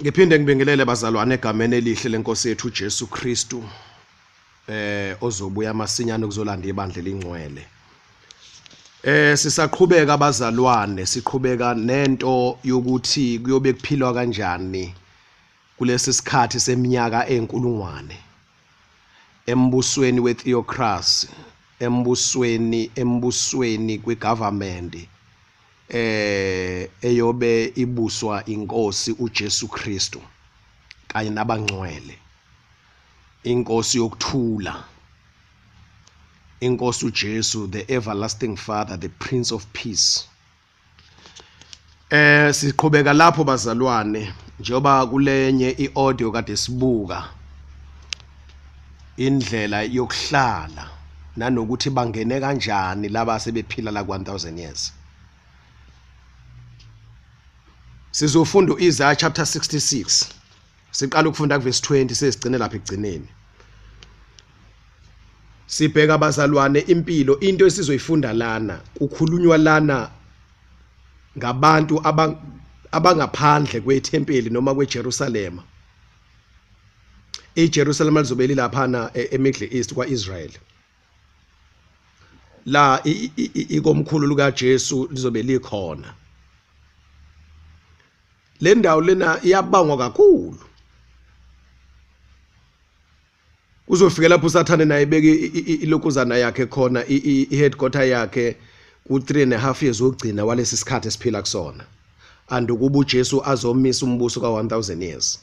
ngiphinde ngibingelele bazalwane egameni elihle lenkosi yethu uJesu Kristu eh ozobuya masinyane kuzolanda ibandla elingcwele eh sisaqhubeka abazalwane siqhubeka nento yokuthi kuyobe kuphilwa kanjani kulesi sikhathi seminyaka enkulungwane embusweni wetheocracy embusweni embusweni kwigovernment eh eyobe ibuswa inkosi uJesu Kristu kanye nabangcwele inkosi yokuthula inkosi uJesu the everlasting father the prince of peace Eh siqhubeka lapho bazalwane njengoba kulenye iaudio kade sibuka indlela yokuhlala nanokuthi bangene kanjani laba sebephila la 1000 years sizofunda uIsaiah chapter 66 siqala ukufunda kuvesi 20 sesigcine lapha ekugcineni sibheka abazalwane impilo into esizoyifunda lana kukhulunywa lana ngabantu abangaphandle kwethempeli noma kweJerusalem iJerusalem lizobe lilaphana e-, eMiddle East kwaIsrael la ikomkhulu likaJesu lizobe likhona le ndawo lena iyabangwa kakhulu uzofika lapho usathane naye beke ilokuzana yakhe khona i-headquarter yakhe ku-three and a half years wokugcina walesi sikhathi esiphila kusona and ukuba ujesu azomisa umbuso ka-one thousand years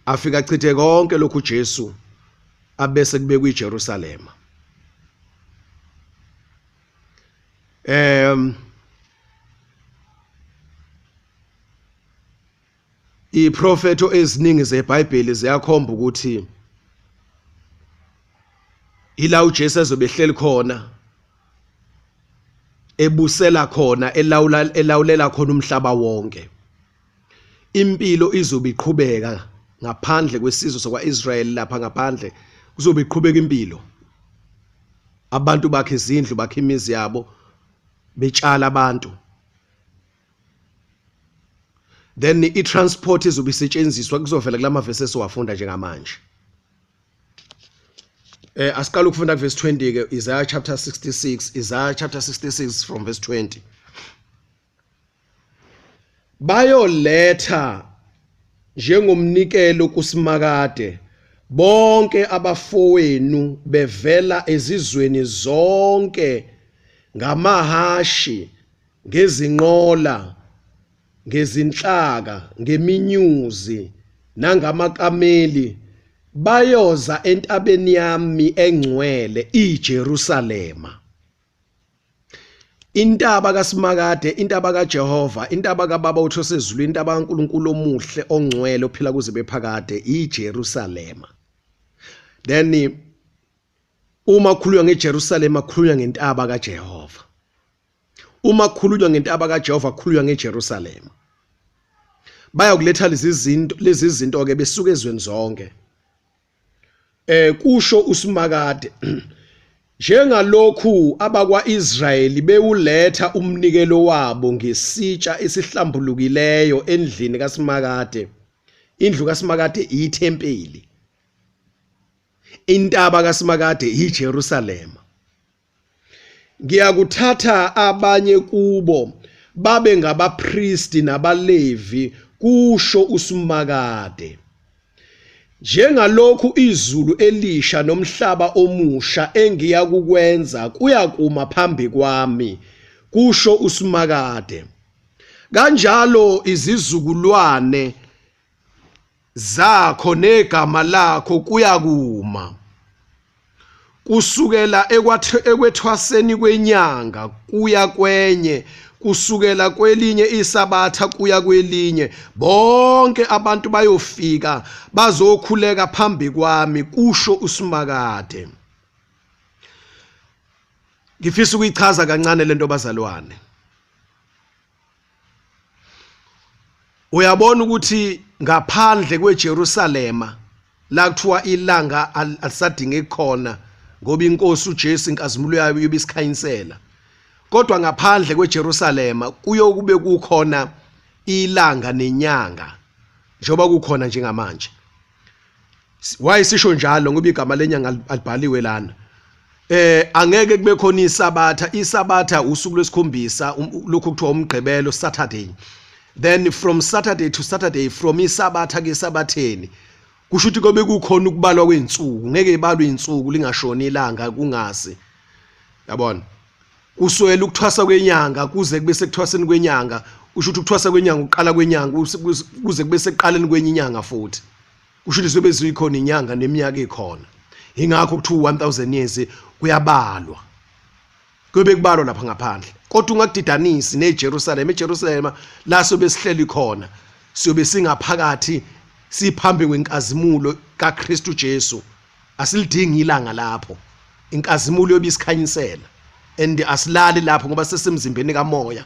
afika achithe konke lokhu ujesu abese kubekwa ijerusalema um iprofetho eziningi zebhayibheli ziyakhomba ukuthi ila uJesu ezobehleli khona ebusela khona elawula elawulela khona umhlaba wonke impilo izobe iqhubeka ngaphandle kwesizwe sakwa-israyeli lapha ngaphandle kuzobe iqhubeka impilo abantu bakhe izindlu bakhe imizi yabo betshala abantu then i-transport izobe isetshenziswa kuzovela kula mavesi esiwafunda njengamanje eh asiqala ukufunda kuverse 20 ke Isaiah chapter 66 Isaiah chapter 66 from verse 20 bayoletha njengomnikelo kuSimakade bonke abafowenu bevela ezizweni zonke ngamahashi ngezinqola ngezinhlaka ngeminyuzi nangamakameli bayoza entabeni yami engcwele iJerusalema intaba kaSimakade intaba kaJehova intaba kaBaba utho sezulu intaba kaNkuluNkulu omuhle ongcwele ophila kuze bephakade iJerusalema then uma khulunywa ngeJerusalema khulunywa ngentaba kaJehova uma khulunywa ngentaba kaJehova khulunywa ngeJerusalema bayakuletha lezi zinto lezi zinto ke besuka ezweni zonke Eh kusho uSimakade Njengalokhu abakwa-Israyeli bewuletha umnikelo wabo ngesitsha esihlambulukileyo endlini kaSimakade, indlu kaSimakade iyithempeli, intaba kaSimakade yiJerusalema. Ngiyakuthatha abanye kubo babe ngabapristi nabaLevi, kusho uSimakade. Njengalokhu izulu elisha nomhlaba omusha engiya kukwenza kuyakuma phambi kwami, kusho uSimakade. Kanjalo izizukulwane zakho negama lakho kuyakuma kusukela ekwethwaseni kwenyanga kuya kwenye kusukela kwelinye isabatha kuya kwelinye bonke abantu bayofika bazokhuleka phambi kwami kusho usimakade ngifisa ukuyichaza kancane lento bazalwane uyabona ukuthi ngaphandle kweJerusalema la kuthiwa ilanga alisadinge khona ngoba inkosi uJesu inkazimulo yayo yobe isikhanyisela kodwa ngaphandle kweJerusalema kuyokube kukhona ilanga nenyanga njengoba kukhona njengamanje why sisho njalo ngoba igama lenyanga alibhaliwe lana eh angeke kube khona isabatha isabatha usuku lwesikhombisa um, lokho kuthiwa umgqibelo saturday then from saturday to saturday from isabatha ke sabatheni kusho ukuthi kobe kukhona ukubalwa kweinsuku ngeke ibalwe insuku lingashoni ilanga kungazi yabona kuswela ukuthwasa kwenyanga kuze kube sekuthwaseni kwenyanga usho ukuthi ukuthwasa kwenyanga uqala kwenyanga kuze kube sekuqaleni kwenye inyanga futhi kusho ukuthi sobe ziyikhona inyanga neminyaka ikhona ingakho kuthiwa 1000 years kuyabalwa kube kubalwa lapha ngaphandle kodwa ungakudidanisi neJerusalem eJerusalem la sobe sihleli khona siyobe singaphakathi siphambi kwenkazimulo kaKristu Jesu asilidingi ilanga lapho inkazimulo yobisikhanyisela and asilali lapho ngoba sesemzimbeni kamoya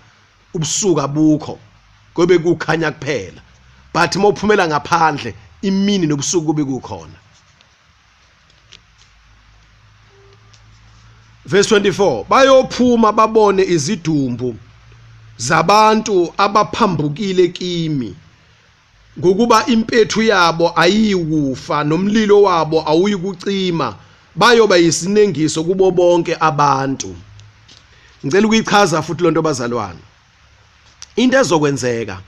ubusuku abukho kobe kukhanya kuphela but uma uphumela ngaphandle imini nobusuku kube kukhona verse 24 bayophuma babone izidumbu zabantu abaphambukile kimi ngokuba impethu yabo ayiyikufa nomlilo wabo awuyikucima bayoba yisinengiso kubo bonke abantu ngicela ukuyichaza futhi lonto bazalwane into ezokwenzeka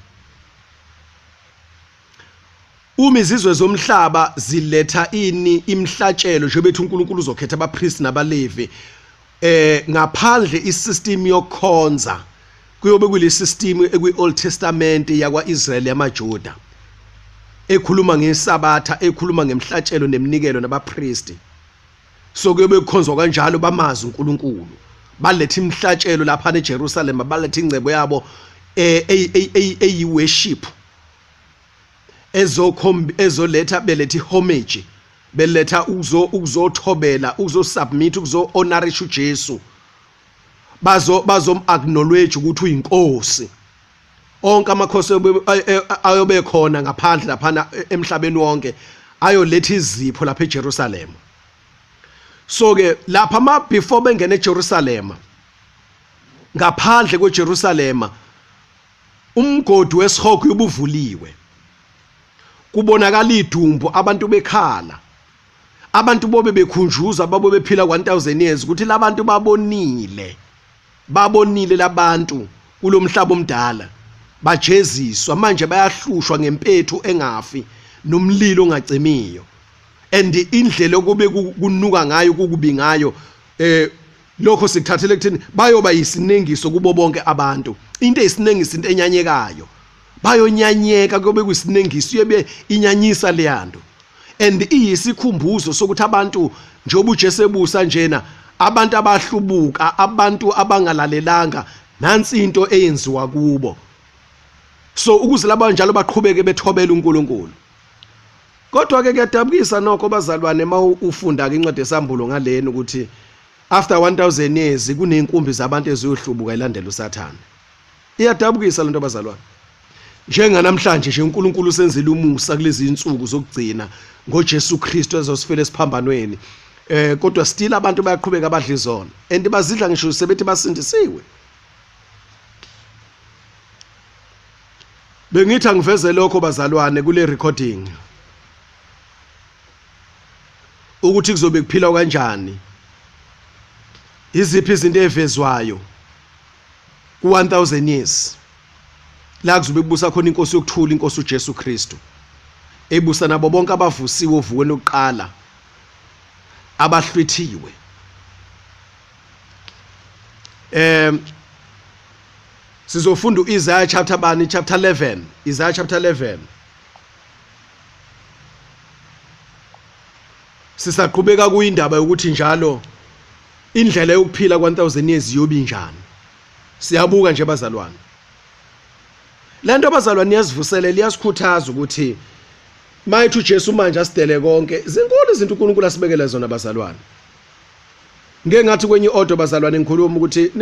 uma izizwe zomhlaba ziletha ini imhlatshelo njengoba ethi uNkulunkulu uzokhetha abapriest nabalevi eh ngaphandle isystem yokukhonza kuyobe kulesystem ekwi Old Testament yakwaIsrael yamaJuda ekhuluma ngesabatha ekhuluma ngemhlatshelo neminikelo nabapristi so kuyobe kukhonzwa kanjalo bamazi uNkulunkulu balethe imhlatshelo lapha eJerusalem balethe ingcebo yabo eh eyi worship ezoletha belethi homage beletha ukuzo ukuzothobela ukuzosubmit ukuzo-honorisha ujesu bazo bazom-acknowledge ukuthi uyinkosi onke amakhosi ayobe khona ngaphandle laphana e, emhlabeni wonke ayoletha izipho lapha eJerusalema so ke lapha ma before bengena eJerusalema ngaphandle kweJerusalema Umgodi wesihogo ubuvuliwe. Kubonakala idumbu abantu bekhala. Abantu bobe bekhunjuza babo bephila 1000 years ukuthi labantu babonile. Babonile labantu kulomhlaba omdala. Bajeziswa manje bayahlushwa ngempethu engafi nomlilo ongacimiyo. And indlela okube kunuka ngayo kukubi ngayo eh lokho sikuthathele kuthini bayoba yisinengiso kubo bonke abantu into eyisinengiso into enyanyekayo bayonyanyeka kube kusinengiso uyebe inyanyisa leyanto and iyisikhumbuzo sokuthi abantu njengoba uJesu ebusa njena abantu abahlubuka abantu abangalalelanga nansi into eyenziwa kubo so ukuze laba njalo baqhubeke bethobela uNkulunkulu kodwa ke kuyadabukisa nokho bazalwane uma ufunda ke incwadi yesambulo ngaleni ukuthi after 1000 years kuneyinkumbi zabantu eziyohlubuka ilandela usathane iyadabukisa lento bazalwane njenganamhlanje nje uNkulunkulu usenzile umusa kulezi insuku zokugcina ngoJesu Kristu ezosifela esiphambanweni eh kodwa still abantu bayaqhubeka abadla izona and bazidla ngisho sebethi basindisiwe bengithi angiveze lokho bazalwane kule recording ukuthi kuzobe kuphilwa kanjani iziphi izinto ezivezwayo ku-1000 years la kuzobe kubusa khona inkosi yokuthula inkosi uJesu Kristu ebusa nabo bonke abavusiwe ovukweni lokuqala abahlwithiwe um sizofunda u-isaya chapter bani chapter 11 isaya chapter 11 sisaqhubeka kuyindaba yokuthi njalo indlela yokuphila kwa-1000 years iyobi njani siyabuka nje bazalwane le nto abazalwane iyazivuselela iyasikhuthaza ukuthi mayithi ujesu manje asidele konke zinkulu izinto unkulunkulu asibekele zona bazalwane ngeke ngathi kwenye i-audio bazalwane ngikhuluma ukuthi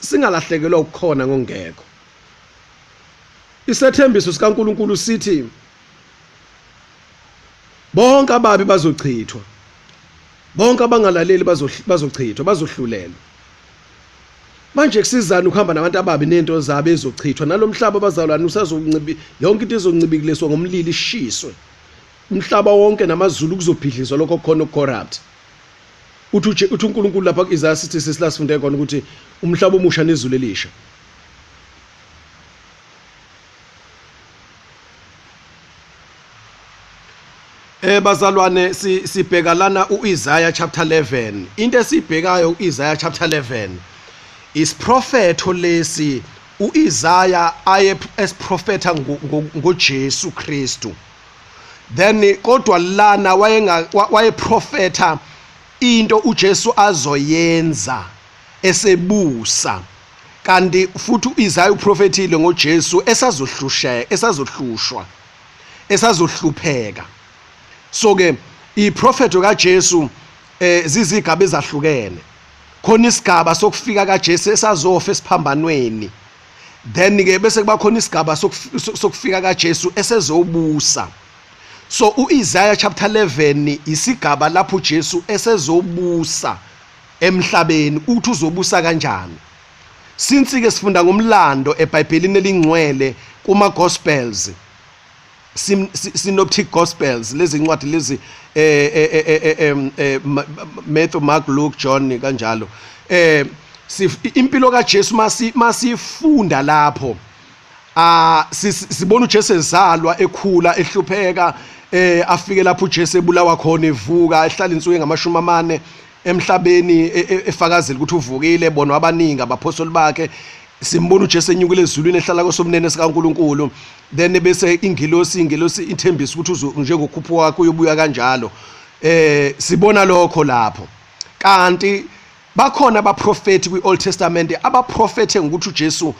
singalahlekelwa ukukhona ngongekho isethembiso sikaNkuluNkulu sithi bonke ababi bazochithwa bonke abangalaleli bazochithwa bazohlulelwa manje kusizana ukuhamba nabantu ababi nento zabo ezochithwa nalomhlaba bazalwane usazoncibi yonke into ezoncibikiliswa ngomlilo ishiswe umhlaba wonke namazulu kuzobhidlizwa lokho kukhona ukucorrupt uthi uthi uNkulunkulu lapha ku-Isaiah 66 la sifunde khona ukuthi umhlaba omusha nezulu elisha Eh bazalwane sibheka lana uIsaiah chapter 11 into esibhekayo uIsaiah chapter 11 isiprofetho lesi uIsaiah aye esiprofetha ngoJesu Kristu then kodwa lana wayenga wayeprofetha into uJesu azoyenza esebusa kanti futhi uIsaya uprofethile ngoJesu esazohlusheka esazohlushwa esazohlupheka so ke iprofeto kaJesu eh zizigaba ezahlukene khona isigaba sokufika kaJesu esazofa esiphambanweni then ke bese kuba khona isigaba sokufika kaJesu esezobusa so uIsaiah chapter 11 isigaba lapho uJesu esezobusa emhlabeni uthi uzobusa kanjani since ke sifunda ngomlando eBhayibhelini elingcwele kuma Gospels synoptic gospels lezi ncwadi lezi eh, eh, eh, Matthew Mark Luke John kanjalo eh impilo kaJesu masi masifunda lapho ah sibona uJesu ezalwa ekhula ehlupheka eh afike lapho uJesu ebulawa khona evuka ehlala insuku engamashumi amane emhlabeni e, e, efakazela ukuthi uvukile bona abaningi abaphostoli bakhe simbona uJesu enyukile ezulwini ehlala kosomnene sikaNkuluNkulu then bese ingilosi ingilosi ithembisa ukuthi njengokhupho wakho uyobuya kanjalo eh sibona lokho lapho kanti bakhona abaprofethi kwi-old testament abaprofethe ngokuthi ujesu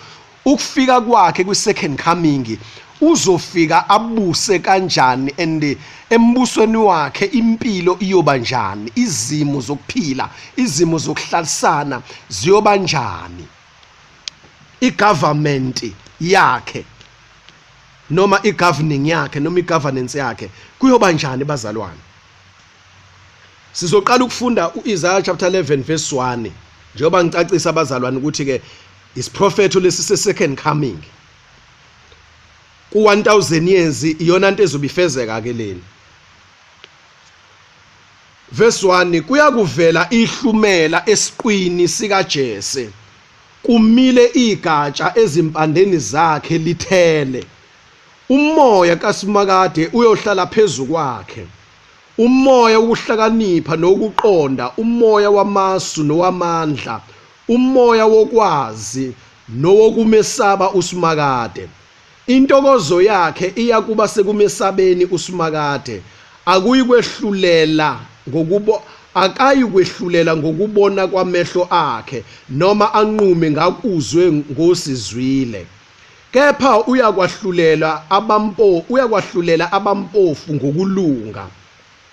ukufika kwakhe kwi-second coming uzofika abuse kanjani and embusweni wakhe impilo iyoba njani izimo zokuphila izimo zokuhlalisana ziyoba njani igovernment yakhe noma igoverning yakhe noma igovernance yakhe kuyoba njani bazalwane sizoqala ukufunda uIsaiah chapter 11 verse 1 njengoba ngicacisa abazalwane ukuthi ke isiprofetho lesi se second coming ku 1000 years iyona into ezobifezeka ke leni Verse 1 kuyakuvela ihlumela esiqwini sikaJese kumile igatsha ezimpandeni zakhe lithele umoya kaSimakade uyohlala phezu kwakhe umoya wokuhlakanipha nokuqonda umoya wamasu nowamandla umoya wokwazi nowokumesaba uSimakade Intokozo yakhe iya kuba sekumesabeni uSimakade. Akuyi kwehlulela ngokubo akayi kwehlulela ngokubona kwamehlo akhe noma anqume ngakuzwe ngosizwile. Kepha uyakwahlulela abampo uyakwahlulela abampofu ngokulunga.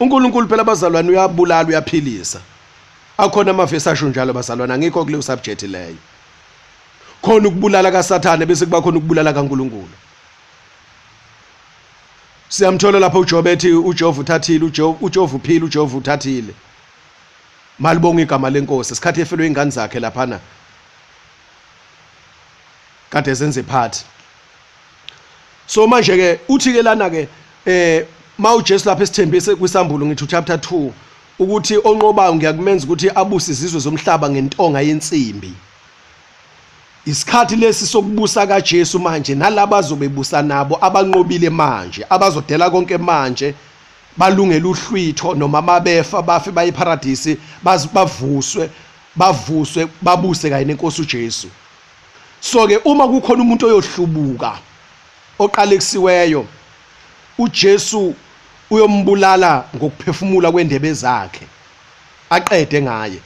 uNkulunkulu phela bazalwane uyabulala uyaphilisa akhona amavesi asho njalo bazalwane angikho kuleyo subject leyo khona ukubulala kasathane bese kuba khona ukubulala kaNkulunkulu siyamthola lapho uJobe ethi uJehova uthathile uJehova uphile uJehova uthathile malibonga igama lenkosi isikhathi efelwe ingane zakhe laphana kade zenze phathi so manje ke uthi ke lana ke eh mawuJesu lapha esithembise kwisambulo ngithi chapter 2 ukuthi onqobayo ngiyakumenza ukuthi abuse izizwe zomhlaba ngentonga yensimbi isikhathi lesi sokubusa kaJesu manje nalaba azobebusa nabo abanqobile manje abazodela konke manje balungele uhlwitho noma mabefa bafe baye eparadisi bavuswe bavuswe babuse kanye nenkosi uJesu so ke uma kukhona umuntu oyohlubuka oqalekisiweyo uJesu uyombulala ngokuphefumula kwendebe zakhe aqede ngaye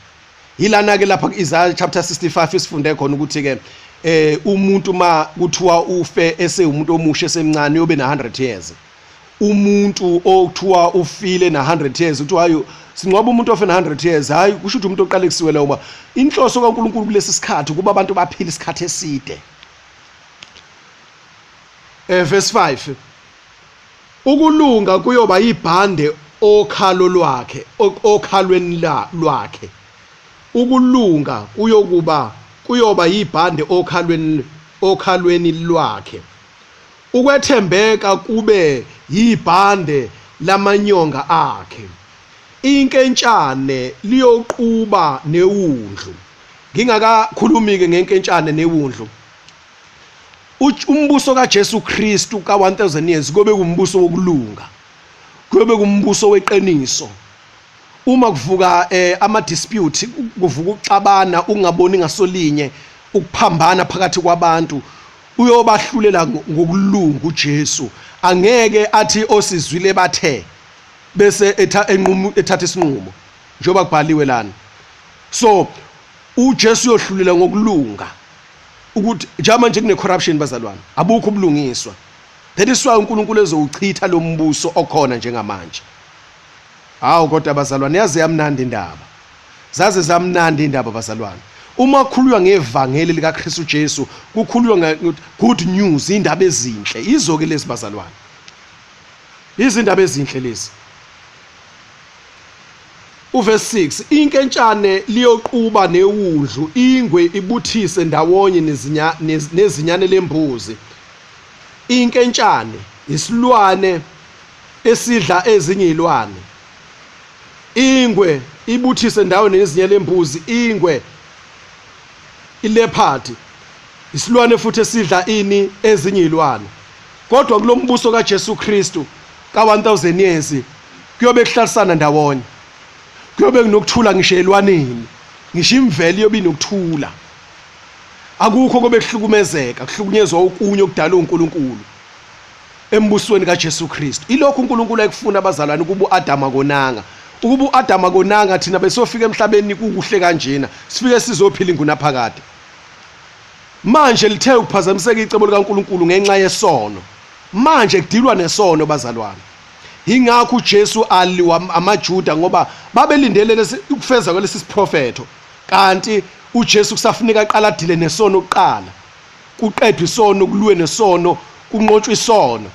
yilana ke lapha Isaiah chapter 65 isifunde khona ukuthi ke eh umuntu ma kuthiwa ufe esewumuntu omusha esemncane uyobe na 100 years umuntu okuthiwa ufile na 100 years uthi hayi singcwaba umuntu ofe na 100 years hayi kusho ukuthi umuntu oqale kusiwela uma inhloso kaNkuluNkulu kulesi sikhathi kuba abantu baphile isikhathi eside eh verse 5 ukulunga kuyoba ibhande okhalo lwakhe okhalweni lwakhe ukulunga kuyokuba kuyoba yibhande okhalweni okhalweni lwakhe Ukwethembeka kube yibhande lamanyonga akhe. Inkentshane liyoquba newundlu. Ngingakakhulumi-ke ngenkentshane newundlu, umbuso kaJesu Kristu ka-1000 years kuyobe kumbuso wokulunga, kuyobe kumbuso weqiniso uma kuvuka eh, ama-dispute kuvuka ukuxabana ukungaboni ngasolinye ukuphambana phakathi kwabantu uyobahlulela ngokulunga uJesu angeke athi osizwile bathe bese etha enqumo ethatha isinqumo njengoba kubhaliwe lana so uJesu uyohlulela ngokulunga ukuthi njama nje kune corruption bazalwane abukho ubulungiswa that is why uNkulunkulu ezowuchitha lo mbuso okhona njengamanje Hawu kodwa bazalwane yaze yamnandi indaba. Zaze zamnandi indaba bazalwane. Uma kukhuluywa ngevangeli lika Kristu Jesu, kukhuluywa nge good news, indaba ezinhle. Izo ke lezi bazalwane. Izindaba ezinhle lezi. Uverse 6 inkentshane liyoquba newundlu ingwe ibuthise ndawonye nezinya nezinyane lembuzi. Inkentshane isilwane esidla ezinye izilwane ingwe ibuthise ndawo nezinye lembuzi ingwe ileopard isilwane futhi esidla ini ezinye izilwane kodwa kulombuso kaJesu Kristu ka1000 years kuyobe kuhlalisana ndawonye kuyobe kunokuthula ngisho elwaneni ngisho imvelo iyobe inokuthula akukho kobe kuhlukumezeka kuhlukunyezwa okunye okudalwa uNkulunkulu embusweni kaJesu Kristu ilokhu uNkulunkulu ayekufuna abazalwane kuba uAdama konanga ukuba uAdama konanga thina besofika emhlabeni kukuhle kanjena sifike sizophila ingunaphakade manje lithe ukuphazamiseka icebo likaNkulunkulu ngenxa yesono manje kudilwa nesono bazalwane ingakho uJesu aliwa amaJuda ngoba babelindele lesi ukufeza kwalesi siprofetho kanti uJesu kusafuneka aqala adile nesono kuqala kuqedwe isono kuliwe nesono kunqotshwe isono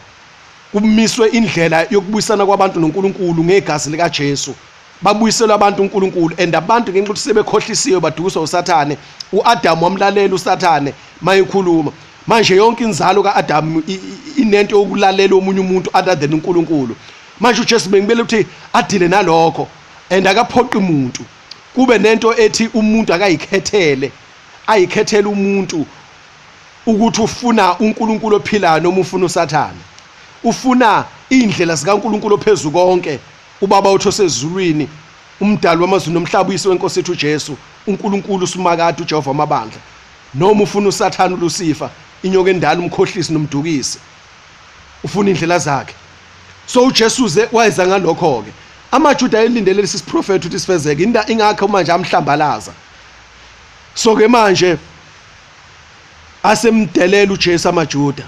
kumiswe indlela yokubuyisana kwabantu noNkulunkulu ngegazi likaJesu babuyiselwe abantu uNkulunkulu and abantu ngenxa ukuthi sebekhohlisiwe badukiswa uSathane uAdam wamlalela uSathane mayekhuluma manje yonke inzalo kaAdam inento yokulalela omunye umuntu other than uNkulunkulu manje uJesu bengibele ukuthi adile nalokho and akaphoqi umuntu kube nento ethi umuntu akayikhethele ayikhethela umuntu ukuthi ufuna uNkulunkulu ophilayo noma ufuna uSathane ufuna indlela zikaNkulunkulu ophezulu konke ubaba otho sezulwini umdali wamazwi nomhlaba uyise wenkosi ethu uJesu uNkulunkulu uSimakade uJehova wamabandla noma ufuna uSathane uLusifa inyoka endala umkhohlisi nomdukisi ufuna indlela zakhe so uJesu ze wayeza ngalokho ke amaJuda ayelindele lesi siprofetho ukuthi sifezeke ingakho manje amhlambalaza so ke manje asemdelela uJesu amaJuda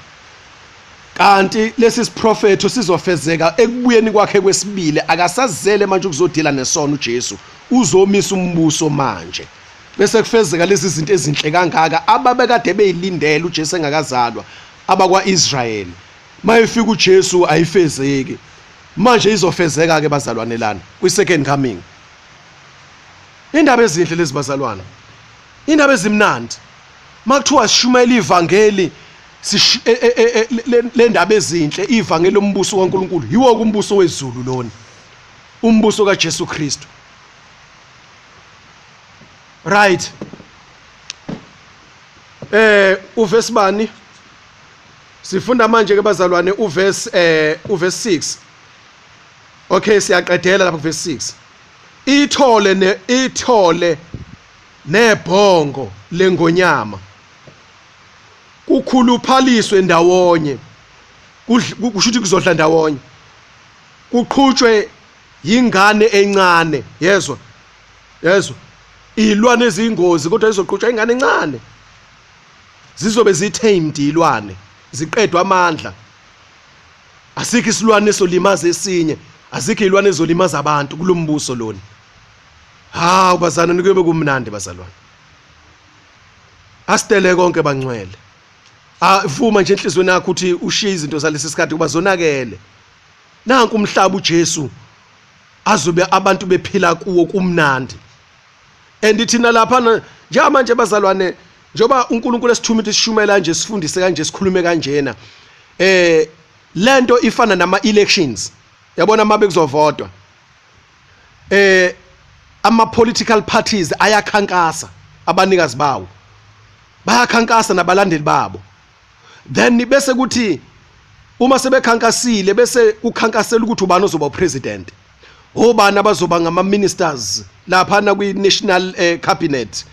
kanti lesi siprofetho sizofezeka ekubuyeni kwakhe kwesibili akasazele manje ukuzodila nesono uJesu uzomisa umbuso manje bese kufezeka lezi zinto ezinhle kangaka ababekade beyilindele uJesu engakazalwa abakwaIsrael mayefika uJesu ayifezeki manje izofezeka ke bazalwane lana kwi second coming Indaba ezinhle lezi bazalwana. Indaba ezimnandi. Makuthiwa sishumayela ivangeli e, e, e, le ndaba ezinhle ivangeli lombuso kaNkuluNkulu yiwo kumbuso wezulu lona. Umbuso kaJesu Kristu. Right. Eh uvesi bani? Sifunda manje ke bazalwane uvesi eh uvesi 6. Okay siyaqedela lapha kuvesi 6. Ithole ne ithole nebhongo lengonyama kukhuluphaliswe ndawonye kusho ukuthi kuzodla ndawonye kuqhutshwe yingane encane yezwa yezwa ilwa nezingozi kodwa izoqhutshwa ingane encane zizobe zithamed ilwane ziqedwa amandla asikho isilwane esolimaza esinye azikho izilwane ezolimaza abantu kulombuso lona hawu bazana nikuyobe kumnandi bazalwane asitele konke bangcwele avuma nje enhlizweni yakho ukuthi ushiye izinto zalesi sikhathi kuba zonakele nanku umhlaba uJesu azobe abantu bephila kuwo kumnandi and thina lapha njengamanje bazalwane njengoba uNkulunkulu esithuma ukuthi sishumayela kanje sifundise kanje sikhulume kanjena eh lento ifana nama elections yabona mabe kuzovotwa eh ama political parties ayakhankasa abanikazi bawo bayakhankasa nabalandeli babo then bese kuthi uma sebekhankasile bese kukhankasela ukuthi ubani ozoba upresident obani abazoba ngama ministers lapha na kwi national eh, cabinet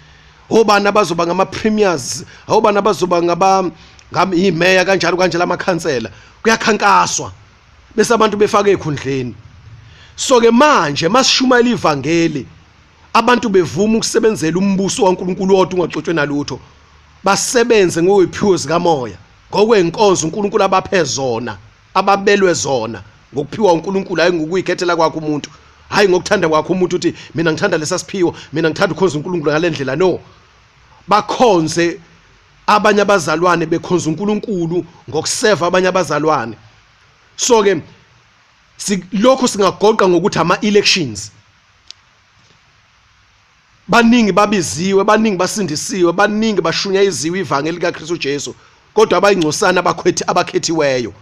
obani abazoba ngama premiers obani abazoba ngaba ngam imeya kanjalo kanje lamakhansela kuyakhankaswa bese abantu befaka ekhundleni so ke manje masishumayela ivangeli abantu bevuma ukusebenzela umbuso waNkulunkulu odwa ungaxotshwe nalutho basebenze ngokwephiwo zikamoya ngokwenkonzo uNkulunkulu abaphe zona ababelwe zona ngokuphiwa uNkulunkulu hayi ngokuyikhethela kwakhe umuntu hayi ngokuthanda kwakhe umuntu uthi mina ngithanda lesasiphiwo mina ngithanda ukhonza uNkulunkulu ngalendlela no bakhonze abanye abazalwane bekhonza uNkulunkulu ngokuseva abanye abazalwane so ke lokho singagoqa ngokuthi ama elections baningi babiziwe baningi basindisiwe baningi bashunya iziwe ivangeli likaKristu Jesu kodwa abayingcosana abakhethi abakhethiweyo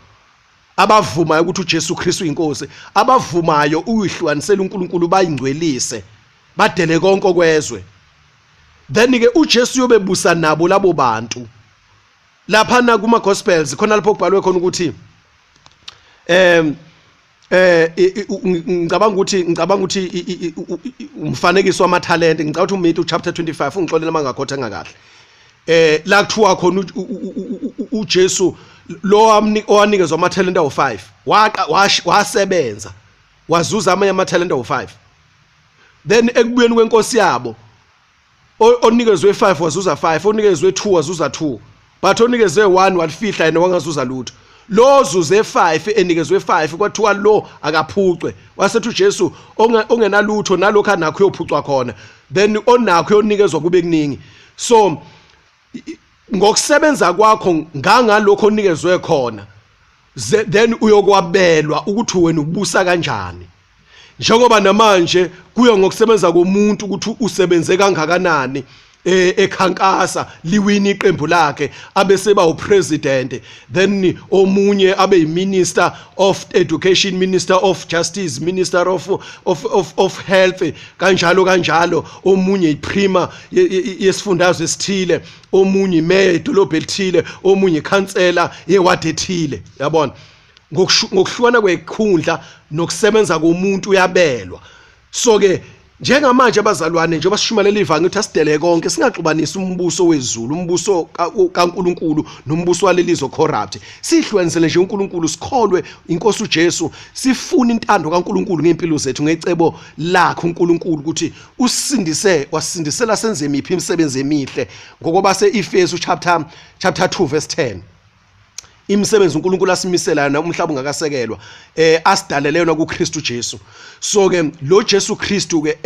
abavumayo ukuthi uJesu Kristu inkosi abavumayo uyihlukanisela uNkulunkulu bayingcwelise badele konke kwezwe then ke uJesu uyobebusa nabo labo bantu laphana kuma gospels khona lapho kubhalwe khona ukuthi em eh ngicabanga ukuthi ngicabanga ukuthi umfanekiso wamathalente ngicabanga ukuthi uMithu chapter 25 ungixolela mangakhotha ngakahle eh la kuthiwa khona uJesu lo owanikezwa amathalente awu5 waqa wasebenza wazuza amanye amathalente awu5 then ekubuyeni kwenkosi yabo onikezwe 5 wazuza 5 onikezwe 2 wazuza 2 but onikezwe 1 walifihla yena wangazuza lutho lo zuze 5 enikezwe 5 kwathiwa lo akaphucwe wasethi uJesu ongenalutho nalokho anakho uyophucwa khona then onakho uyonikezwa kube kuningi so ngokusebenza kwakho ngangalokho onikezwe khona then uyokwabelwa ukuthi wena ubusa kanjani njengoba namanje kuya ngokusebenza komuntu ukuthi usebenze kangakanani eh ekhankasa liwini iqembu lakhe abeseba upresident then omunye abe yiminister of education minister of justice minister of of of, of health kanjalo kanjalo omunye iprima yesifundazwe esithile omunye imeya edolobha elithile omunye ikhansela yewadi ethile yabona ngokuhlukana kwekhundla nokusebenza komuntu uyabelwa so ke njengamanje abazalwane njengoba sishumayela ivangeli ukuthi asidele konke singaxubanisi umbuso wezulu umbuso kaNkuluNkulu nombuso walelizwe corrupt sihlukanisele nje uNkuluNkulu sikholwe inkosi uJesu sifune intando kaNkuluNkulu ngempilo zethu ngecebo lakhe uNkuluNkulu ukuthi usindise wasindisela senze imiphi imisebenzi emihle ngokuba seEfesu chapter chapter 2 verse 10 imisebenzi uNkulunkulu asimisela yona umhlaba ungakasekelwa eh asidalele yona kuKristu Jesu so ke lo Jesu Kristu ke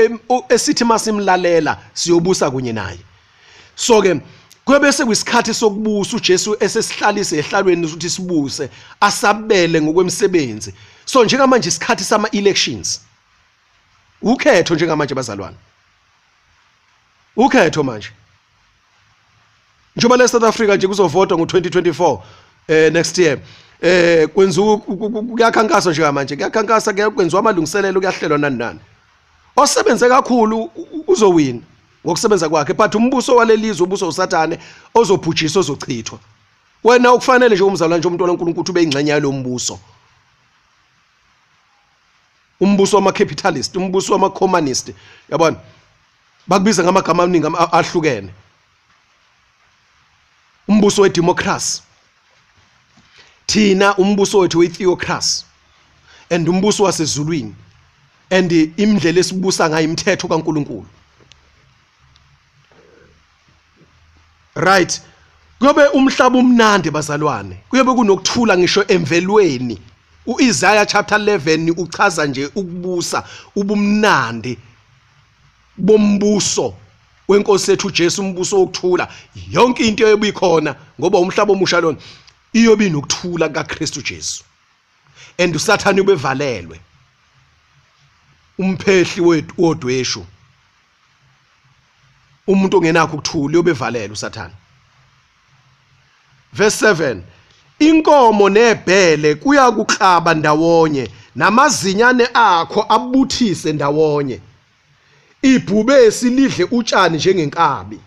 esithi masimlalela siyobusa kunye naye so ke kwebese kwisikhathi sokubusa uJesu esesihlalise ehlalweni ukuthi sibuse asabele ngokwemisebenzi so njengamanje isikhathi sama elections ukhetho njengamanje bazalwane ukhetho manje njengoba le South Africa nje kuzovotwa ngo2024 eh next year eh kwenziwa kuyakhankaswa nje manje kuyakhankasa kwenziwa amalungiselelo kuyahlelwa nani nani osebenze kakhulu uzowina ngokusebenza kwakhe but umbuso walelizwe ubuso usathane ozobhujiswa ozochithwa wena ukufanele nje umzalwane nje umntwana uNkulunkulu ube ingxenye yalombuso umbuso wama capitalist umbuso wama communist yabona bakubiza ngamagama amaningi ahlukene umbuso wedemocracy thina umbuso wethu wetheocracy and umbuso wasezulwini and imndlela esibusa ngayo imithetho kaNkuluNkulu right kuyobe umhlaba umnandi bazalwane kuyobe kunokuthula ngisho emvelweni uIsaiah chapter 11 uchaza nje ukubusa ubumnandi bombuso wenkosi yethu Jesu umbuso wokuthula yonke into eyobikhona ngoba umhlaba omusha lona iyobe inokuthula kaKristu Jesu and usathane ubevalelwe umphehli wethu odweshu umuntu ongenakho ukuthula uyobevalela usathane verse 7 inkomo nebhele kuyakuklaba ndawonye namazinyane akho abuthise ndawonye ibhubesi lidle utshani njengenkabi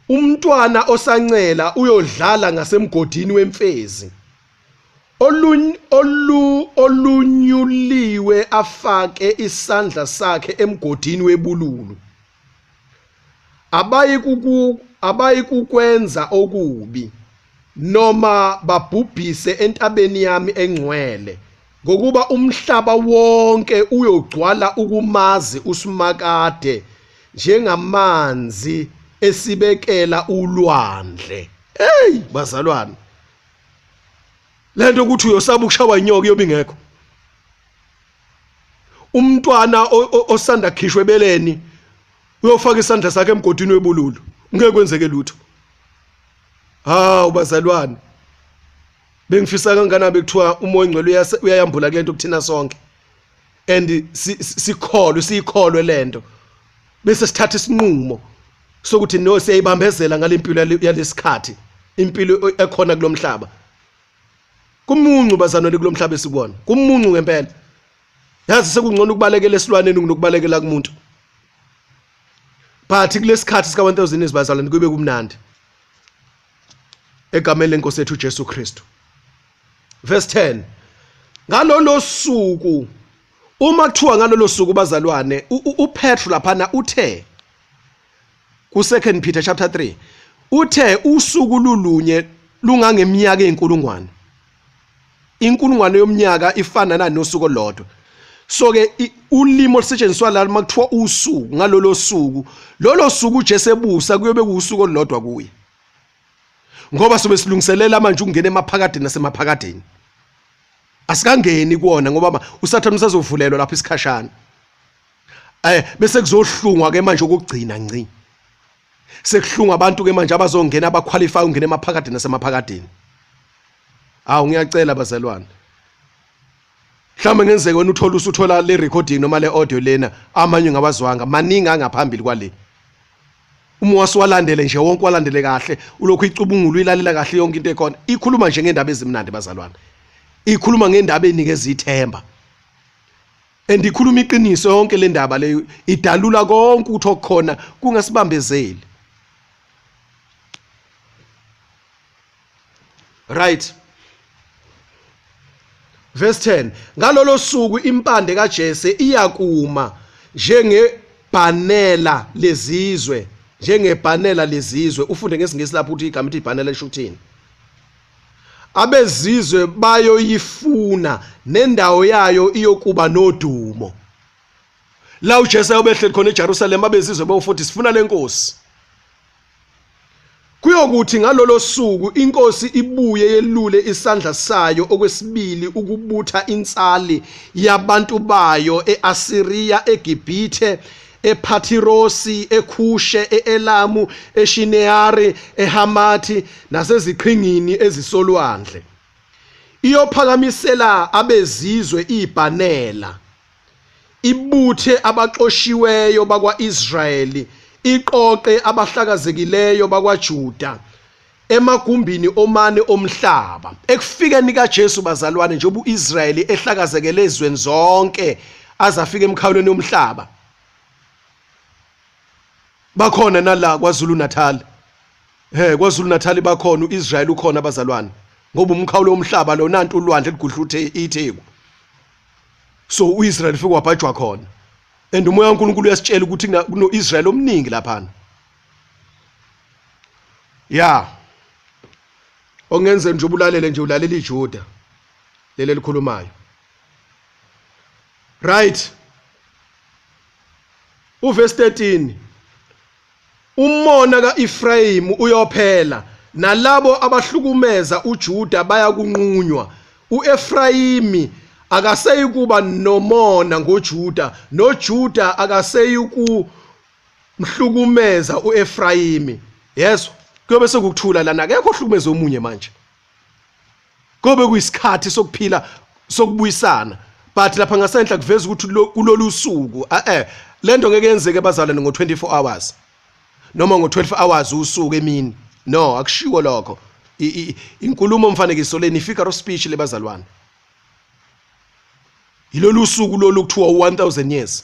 umntwana osancela uyodlala ngasemgodini wemfezi olunyuliwe afake isandla sakhe emgodini webululu abayi kukwenza okubi noma babhubhise entabeni yami engcwele ngokuba umhlaba wonke uyogcwala ukumazi uSimakade njengamanzi esibekela ulwandle hey bazalwane lento ukuthi uyosaba ukushawa inyoka iyobe ingekho umntwana osanda khishwe beleni uyofaka isandla sakhe emgodini webululu ngeke kwenzeke lutho hawu bazalwane bengifisa kangakanani bekuthiwa umoya ongcwele uyayambula kule nto kuthina sonke and sikholwe siyikholwe lento bese sithatha isinqumo sokuthi no siyayibambezela ngalempilo yalesikhathi impilo ekhona kulomhlaba kumuncu bazanwele kulomhlaba esikubona kumuncu ngempela yazi sekungcono ukubalekela esilwaneni kunokubalekela kumuntu but kulesikhathi sika 1000 izibazalwane kube kumnandi egameni lenkosi yethu Jesu Kristu verse 10 ngalolo suku uma kuthiwa ngalolo suku bazalwane uPetro laphana uthe ku second Peter chapter 3 uthe usuku lulunye lungangeminyaka ezinkulungwane inkulungwane yomnyaka ifanana nosuku olodwa so ke ulimi olusetshenziswa la uma kuthiwa usuku ngalolo suku lolo suku uJesu ebusa kuyobe kuusuku olulodwa kuye ngoba sobe silungiselela manje ukungena emaphakadeni nasemaphakadeni asikangeni kuona ngoba usathane usazovulelwa lapha isikhashana eh bese kuzohlungwa ke manje ukugcina nci sekuhlunga abantu ke manje abazongena abaqualify ungena emaphakadeni nasemaphakadeni awu ngiyacela bazalwane mhlawumbe ngenzeke wena uthola usuthola le recording noma le audio lena amanye ngawazwanga maningi angaphambili kwale uma wasiwalandele nje wonke walandele kahle ulokhu icubungula uyilalela kahle yonke into ekhona ikhuluma nje ngendaba ezimnandi bazalwane ikhuluma ngendaba enikeza ithemba and ikhuluma iqiniso yonke le ndaba leyo idalula konke ukuthi okukhona kungasibambezeli right verse 10 ngalolo suku impande kaJese iyakuma njengebhanela lezizwe njengebhanela lezizwe ufunde ngesingisi lapho ukuthi igama ithi ibhanela lisho ukuthini abezizwe bayoyifuna nendawo yayo iyokuba nodumo la uJesu ayobehleli khona eJerusalem abezizwe bayofuthi sifuna lenkosi kuyokuthi ngalolo suku inkosi ibuye yelule isandla sayo okwesibili ukubutha insali yabantu bayo eAsiriya eGibhithe ePhathirosi, eKhushe, e-Elamu, eShineari, eHamathi naseziqhingini ezisolwandle. Iyophakamisela abezizwe ibhanela, ibuthe abaxoshiweyo bakwa-Israyeli, iqoqe abahlakazekileyo bakwaJuda. emagumbini omane omhlaba ekufikeni kaJesu bazalwane njengoba uIsrayeli ehlakazekele ezweni zonke azafika emkhawulweni yomhlaba bakhona nala kwaZulu Natal he kwaZulu Natal bakhona uIsrayeli ukhona bazalwane ngoba umkhawulo womhlaba lo nantu ulwandle ligudla uthe itheku so uIsrayeli ufike wabhajwa khona and umoya kaNkulunkulu uyasitshela ukuthi kunoIsrayeli omningi laphana ya ongenze nje ubulalele nje ulalela ijuda leli elikhulumayo right uverse 13 umona kaEfrayim uyophela nalabo abahlukumeza uJuda bayakunqunywa uEfrayimi akaseyikuba nomona ngoJuda noJuda akaseyikuba mhlukumeza uEfrayimi yezwa kuyobe sekuthula lana akekho ohlukumeza omunye manje kobe kuyisikhathi sokuphila sokubuyisana but lapha ngasenhla kuveza ukuthi kulolu suku eh, eh lento ngeke yenzeke bazalwane ngo24 hours noma ngo12 hours usuku emini no akushiwo lokho inkulumo mfanekiso leni figure of speech lebazalwane yilolu suku lolu kuthiwa 1000 years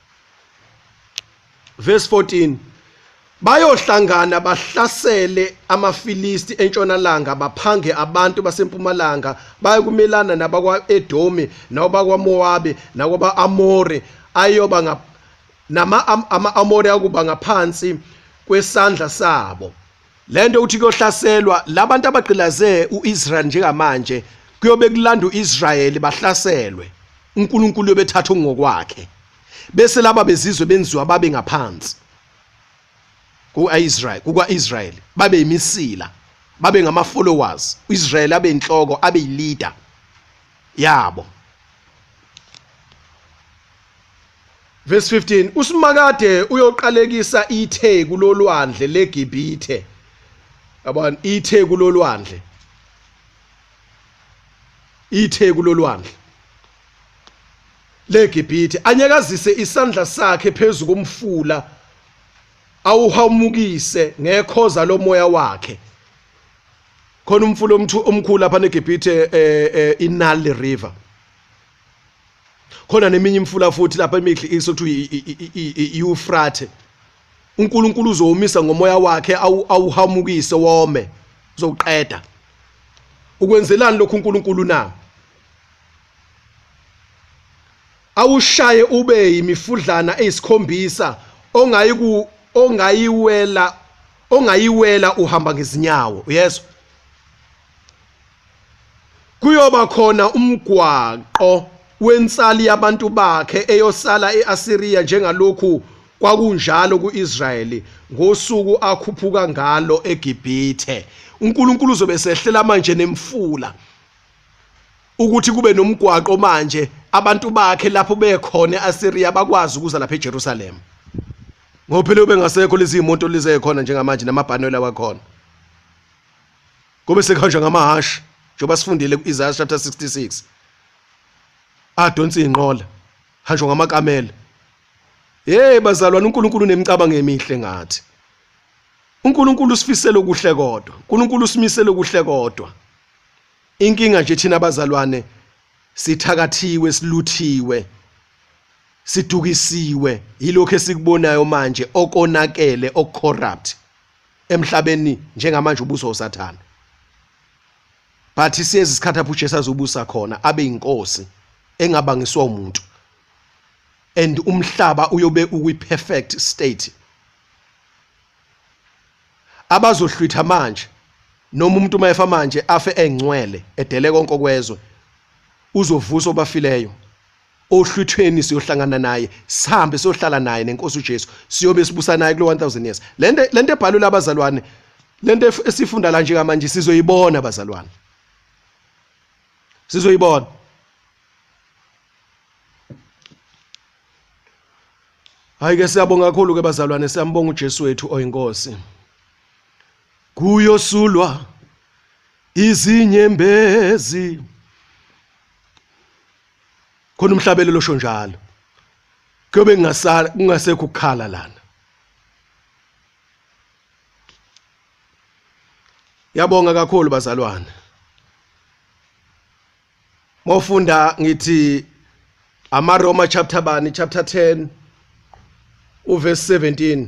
verse 14 bayohlangana bahlasele amaFilisti entshonalanga baphange abantu basempumalanga bayokumelana nabakwaEdomi nabakwaMowabe nakwabaAmore ayoba nama-Amore akuba ngaphansi kwesandla sabo lento uthi kuyohlaselwa labantu abagqilaze uIsrael njengamanje kuyobe kulanda uIsrael bahlaselwe uNkulunkulu yobethatha ngokwakhe bese laba bezizwe benziwa babe ngaphansi kuIsrael kukaIsrael babe imisila babe ngama followers uIsrael abe inhloko abe leader yabo Verse 15 uSimakade uyoqalekisa itheku lolwandle leGibhithe. Yabona itheku lolwandle. Itheku lolwandle leGibhithe anyakazise isandla sakhe phezulu komfula awuhamukise ngekhoza lomoya wakhe. Khona umfula omkhulu lapha neGibhithe eh, eh, iNile River. khona neminye imfula futhi lapha emihle isothu iufrate uNkulunkulu uzowumisa ngomoya wakhe awuhamukise wome uzoqeda ukwenzelani lokhu uNkulunkulu na awushaye ube yimifudlana eyisikhombisa ongayi ku ongayiwela ongayiwela uhamba ngezinyawo uyezwa Kuyoba khona umgwaqo wensali yabantu bakhe eyosala e-Asiriya njengalokhu kwakunjalo ku-Israyeli ngosuku akhuphuka ngalo eGibhithe. UNkulunkulu uzobe esehlela manje nemfula ukuthi kube nomgwaqo manje abantu bakhe lapho bekhona e-Asiriya bakwazi ukuza lapha eJerusalem ngoba phela ubengasekho lezi moto lizekhona njengamanje namabhanoyi lawakhona Kobe sekuhanjwa ngamahhashi njengoba sifundile ku-Isaiah chapter 66. Adonsa inqola, hanjwa ngamakamela. Hey bazalwane uNkulunkulu unemicabango emihle ngathi. uNkulunkulu usifisela okuhle kodwa. uNkulunkulu usimisela okuhle kodwa. Inkinga nje thina bazalwane sithakathiwe siluthiwe sidukisiwe yilokho esikubonayo manje okonakele okucorrupt emhlabeni njengamanje ubuso usathane but siyezi isikhathi apho uJesu azobusa khona abe inkosi engabangiswa umuntu and umhlaba uyobe ukwi perfect state abazohlwitha manje noma umuntu uma efa manje afe engcwele edele konke okwezwe uzovusa obafileyo ohlwithweni siyohlangana naye sihambe siyohlala naye nenkosi uJesu siyobe sibusa naye kulo 1000 years lento lento ebhalwe labazalwane lento esifunda la nje kamanje sizoyibona abazalwane sizoyibona hayi ke siyabonga kakhulu ke bazalwane siyambonga uJesu wethu oyinkosi kuyosulwa izinyembezi khona umhlabelelo osho njalo kuyobe kungasala kungasekho ukukhala lana yabonga kakhulu bazalwane mofunda ngithi amaroma chapter bani chapter 10 uverse 17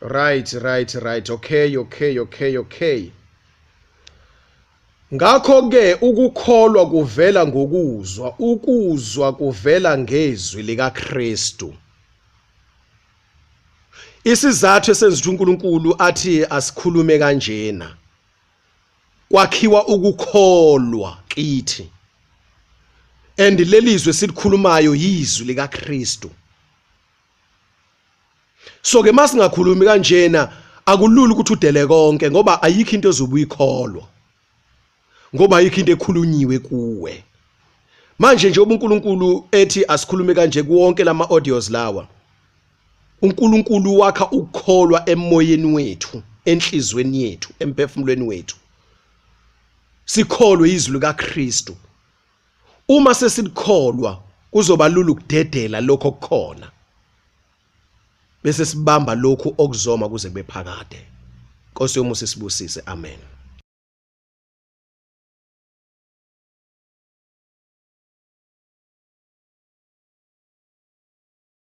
right right right okay okay okay okay ngakho ke ukukholwa kuvela ngokuzwa ukuzwa kuvela ngezwi likaKristu isizathu esenza ukuthi uNkulunkulu athi asikhulume kanjena kwakhiwa ukukholwa kithi and lelizwe silikhulumayo yizwi likaKristu so ke masingakhulumi kanjena akulula ukuthi udele konke ngoba ayikho into ezobuyikholwa ngoba ayikho into ekhulunyiwe kuwe manje nje ubuNkulunkulu ethi asikhulume kanje kuwonke lama audios lawa uNkulunkulu wakha ukukholwa emoyeni wethu enhlizweni yethu emphefumulweni wethu sikholwe izwi likaKristu uma sesikholwa kuzoba lula ukudedela lokho kukhona bese sibamba lokhu okuzoma kuze kube phakade Nkosi yomusa isibusise amen